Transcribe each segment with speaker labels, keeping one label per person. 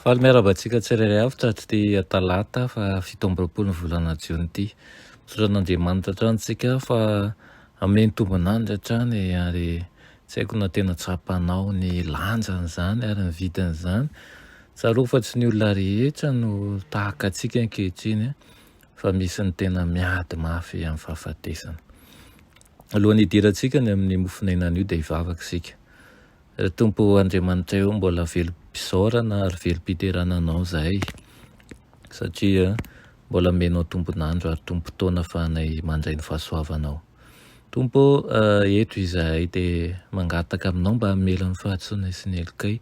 Speaker 1: Faly miarahaba antsika tsirairay avy tratry ity talata fa fito amby roapolo ny volana jiona ity. Misaotra an'Andriamanitra hatrany tsika fa ameny tombon'andry hatrany ary tsy haiko na tena tsapanao ny lanjan'izany ary ny vidin'izany. Tsarovy fa tsy ny olona rehetra no tahaka antsika ankehitriny fa misy ny tena miady mafy amin'ny fahafatesana. Alohan'ny hidirantsika ny amin'ny mofon'aina anio dia hivavaka isika. Ry Tompo Andriamanitraiô mbola velom-pisaorana ary velom-piderana Anao izahay satria mbola omenao tombon'andro ary tombon-potoana afahanay mandray ny fahasoavanao. Tompo ô, eto izahay dia mangataka Aminao mba hamela ny fahatsoanay sy ny helokay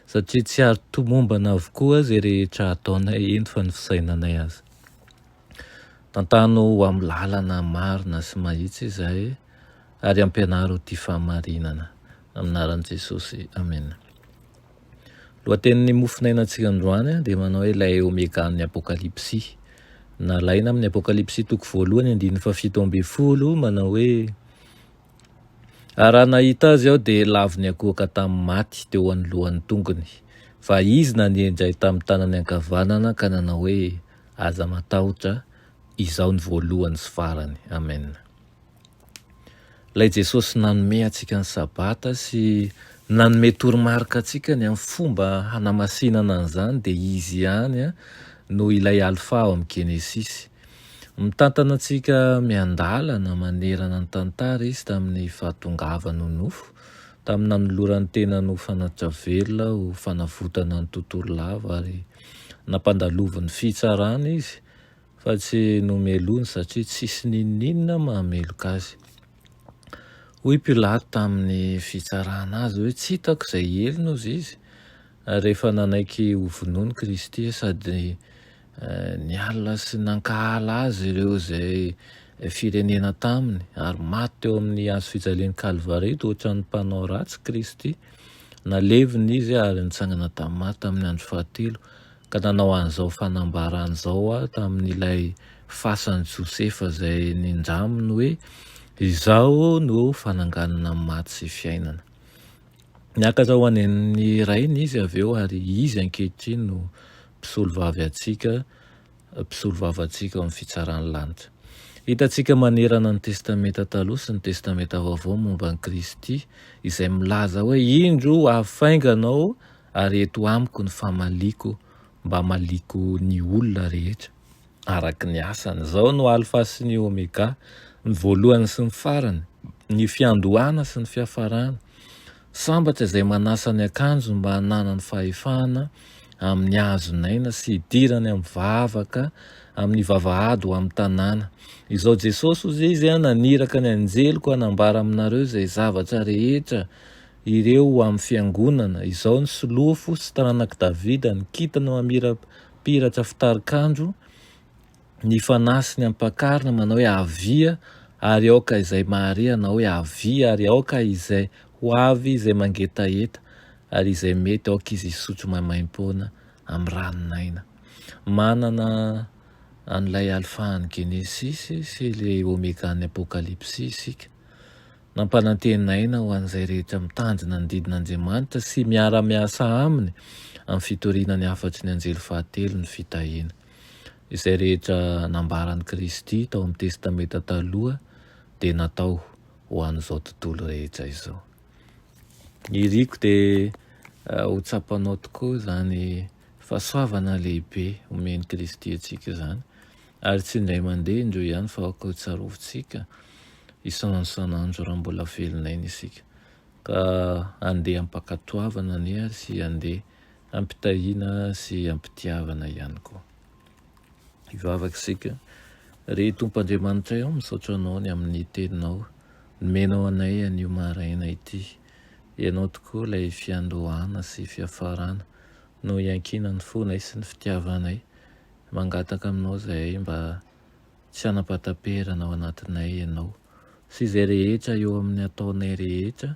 Speaker 1: satria tsy ary tomombana avokoa izay rehetra ataonay eto fa ny fisainanay aza. Tantano ho amin'ny lalana marina sy mahitsy izahay ary ampianaro ity fahamarinana. Amin'ny anaran'i Jesosy, amena. Lohatenin'ny mofonainantsika androany dia manao hoe ilay Omegan'ny Apokalypsy. Nalaina amin'ny Apokalypsy toko voalohany andininy fahafito ambin'ny folo manao hoe Ary raha nahita azy aho dia lavo niakohoka tamin'ny maty teo anoloan'ny tongony, fa izy nanenjay tamin'ny tanany ankavanana ka nanao hoe Aza matahotra, Izaho ny voalohany sy farany. Amen. Ilay Jesosy nanome antsika ny Sabata sy nanome toromarika antsika ny amin'ny fomba hanamasinana an'izany dia Izy ihany no ilay Alfa ao amin'ny Genesisy. Mitantana antsika miandalana manerana ny tantara Izy tamin'ny fahatongavany ho nofo, tamin'ny nanolorany tenany ho fanatitra velona ho fanavotana ny tontolo lava ary Nampandalovin'ny fitsarana izy fa tsy nomelohiny satria tsisy n'inon'inona mahameloka azy. Hoy Pilato tamin'ny fitsarana azy hoe, Tsy hitako izay helony ozy izy. Ary rehefa nanaiky hovonoina i Kristy sady niala sy nankahala azy ireo izay firenena taminy ary maty teo amin'ny hazofijalian'i Kalvary dia ohatran'ny mpanao ratsy Kristy. Nalevina izy ary nitsangana tamin'i Marta tamin'ny andro fahatelo, ka nanao an'izao fanambarany izao tamin'ilay fasan'i Josefa izay nindraminy hoe, Izaho no fananganana ny maty sy fiainana. Niakatra ho any amin'ny Rainy izy avy eo, ary izy ankehitriny no mpisolovavy antsika mpisolovava antsika ao amin'ny fitsaran'ny lanitra. Hitantsika manerana ny Testamenta Taloha sy ny Testamenta Vaovao momba an'i Kristy izay milaza hoe, Indro, ho avy faingana aho, ary eto amiko ny famaliako mba hamaliako ny olona rehetra araka ny asany. Izao no Alfa sy ny Omega, ny voalohany sy ny farany, ny fiandohana sy ny fiafarana. Sambatra izay manasa ny akanjony mba hananany fahefana amin'ny hazon'aina sy hidirany amin'ny vavaka amin'ny vavahady ho amin'ny tanàna. Izao Jesosy hoy izay izy, Naniraka ny anjeliko hanambara aminareo izay zavatra rehetra ireo ho amin'ny fiangonana. Izao ny solofo sy taranak'i Davida, ny kintana mamirapiratra fitarikandro, ny fanahy sy ny ampakarina manao hoe avia ary aoka izay mahare hanao hoe avia ary aoka izay ho avy izay mangetaheta ary izay mety aoka izy hisotro maimaimpoana amin'ny ranon'aina manana an'ilay alfan'ny genesisy sy ilay omegan'ny apokalypsy isika nampanantenaina ho an'izay rehetra mitandrina ny didin'Andriamanitra sy miara-miasa aminy amin'ny fitoriana ny hafatry ny anjely fahatelo ny fitahiana Izay rehetra nambaran'i Kristy tao amin'ny Testamenta Taloha dia natao ho an'izao tontolo rehetra izao. Ny iriko dia ho tsapanao tokoa izany fahasoavana lehibe omen'i Kristy antsika izany, ary tsy indray mandeha indreo ihany fa koa tsarovintsika isan'andro isan'andro raha mbola velon'aina isika. Ka andeha ampakatoavana anie ary sy andeha ampitahiana sy ampitiavana ihany koa. Hivavaka isika, Ry Tompo Andriamanitray ô, misaotra Anao ny amin'ny Teninao nomenao anay anio maraina ity. Ianao tokoa ilay fiandohana sy fiafarana, no iankinan'ny fonay sy ny fitiavanay. Mangataka aminao izahay mba tsy hanapataperana ao anatinay Ianao sy izay rehetra eo amin'ny ataonay rehetra,